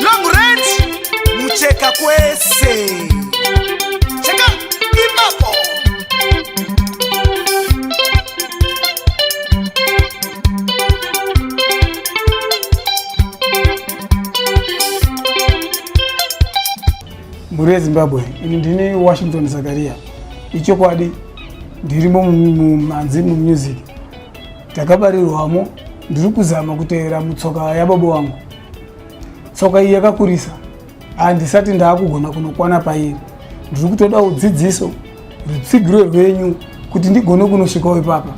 long range mucheka kwese cheka ipapo mhuri yezimbabwe ini ndini washington zakaria ichokwadi ndirimo mumhanzi mumusic takabarirwamo ndiri kuzama kutevera mutsoka yababa wangu tsoka iyi yakakurisa handisati ndaakugona kunokwana pairi ndiri kutoda udzidziso rutsigiro rwenyu kuti ndigone kunosvikawo ipapa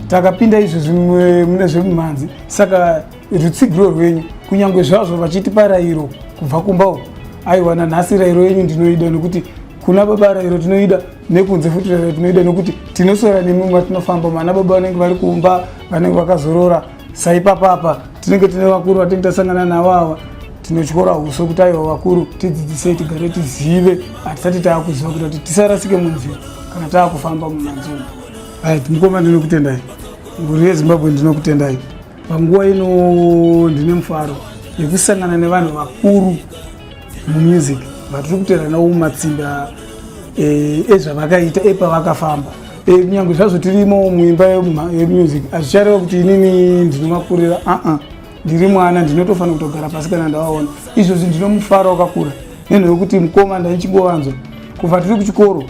takapinda izvo zvimwe mune zvemumhanzi saka rutsigiro rwenyu kunyange zvazvo vachitipa rairo kubva kumba uku aiwana nhasi rairo yenyu ndinoida nekuti kuna baba rairo tinoida nekunze futi tinoida nokuti tinosora nemi matinofamba mana baba vanenge vari kumba vanenge vakazorora saipapapa tinenge tine vakuru vatinge tasangana navo ava tinotyora uso kuti aiwa vakuru tidzidzisei tigare tizive hatisati taakuziva kuita kuti tisarasike munzira kana taakufamba mumanzuma ait mukoma ndinokutendai nguri yezimbabwe ndinokutendai panguva ino ndine mufaro yekusangana nevanhu vakuru mumusic vatiri kuteranawo mumatsimba eh, ezvavakaita epavakafamba eh, kunyange zvazvo tirimo muimba yemusic hazvichareva kuti inini ndinovakurira aa ndiri mwana ndinotofanira kutogara pasi kana ndavaona izvozvi ndinomufara wakakura nenhu yokuti mukoma ndaichingovanzwa kubva tiri kuchikoro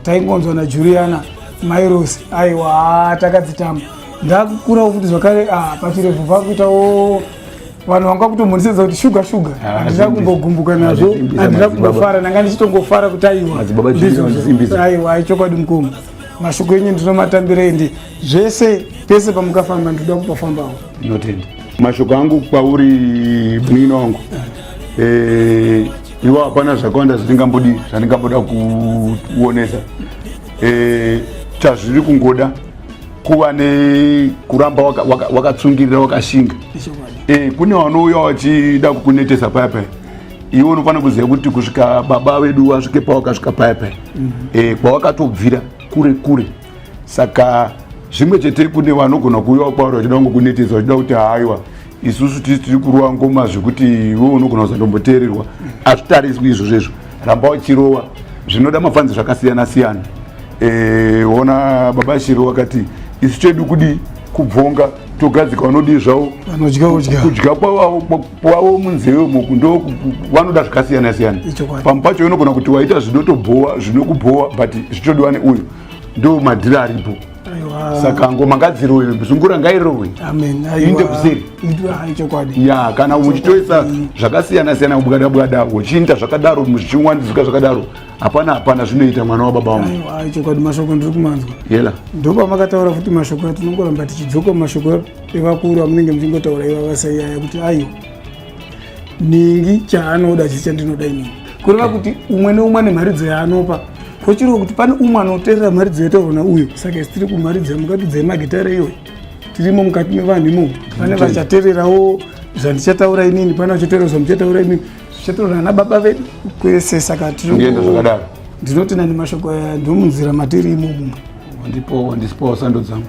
taingonzwa najuliana mairosi aiwa takadzitamba ndakukurawo futi zvakare ah, pachirevhu vakuitawo vanhu vanga kutombondisedza kuti shuga shuga ah, handina kumbogumbuka nazvo handina kumbofara ndanga ndichitongofara kuti aiwaaiwa aichokwadi mukoma mashoko enyu ndinomatambira endi zvese pese pamukafamba ndinoda kupafambawo mashoko angu kwauri munin'ina wangu eh, iwa hapana zvakawanda zvandingambodi zvandingamboda kuonesa eh, chazviri kungoda kuva nekuramba wakatsungirira waka, waka wakashinga e, kune vanouya vachida kukunetesa paya paya iwe unofanira kuziva kuti kusvika baba vedu vasvike pawakasvika paya paya mm -hmm. e, eh, kwawakatobvira kure kure saka zvimwe chete kune vanogona kuuyawo kwauri vachida kungokunetesa vachida kuti haiwa isusu tisi tiri kurova ngoma zvekuti iwe unogona kuzandomboteererwa azvitariswi izvo zvezvo ramba uchirova zvinoda mafanzi zvakasiyana siyana e, ona baba shiro wakati isu chedu kudi kubvonga togadzika vanodii zvavo kudya kwavo munzeve moku ndo vanoda zvakasiyana siyana pamwe pacho unogona kuti waita zvinotobhowa zvinokubhowa but zvichodiwa neuyu ndo madhiri aripo saka ngoma ngadzirowe zungura ngairowe inde kuseri ya kana uchitoisa zvakasiyana siyana kubwada bwada uchiita zvakadaro zvichiwandidzika zvakadaro hapana hapana zvinoita mwana wababa wangu chokwadi mashoko ndiri kumanzwa yela ndopamakataura futi mashoko atinongoramba tichidzoka mashoko evakuru amunenge muchingotaura ivavasaiaya kuti aiwa ningi chaanoda chii chandinoda inini kureva kuti umwe neumwe ane mharidzo yaanopa kochirwa kuti pane umwe anoterera mharidzo yataona uyo saka isi tiri kumharidzo yamukatidza yemagitare iyoyo tirimo mukati mevanhu imomo pane vachatererawo zvandichataura inini pane vachaterera zvamuchataura inini zvichataura ana baba vedu kwese saka tirienda zvakadaro ndinoti nani mashoko aya ndomunzira matiri imomo ndipowo ndisipowo sando dzangu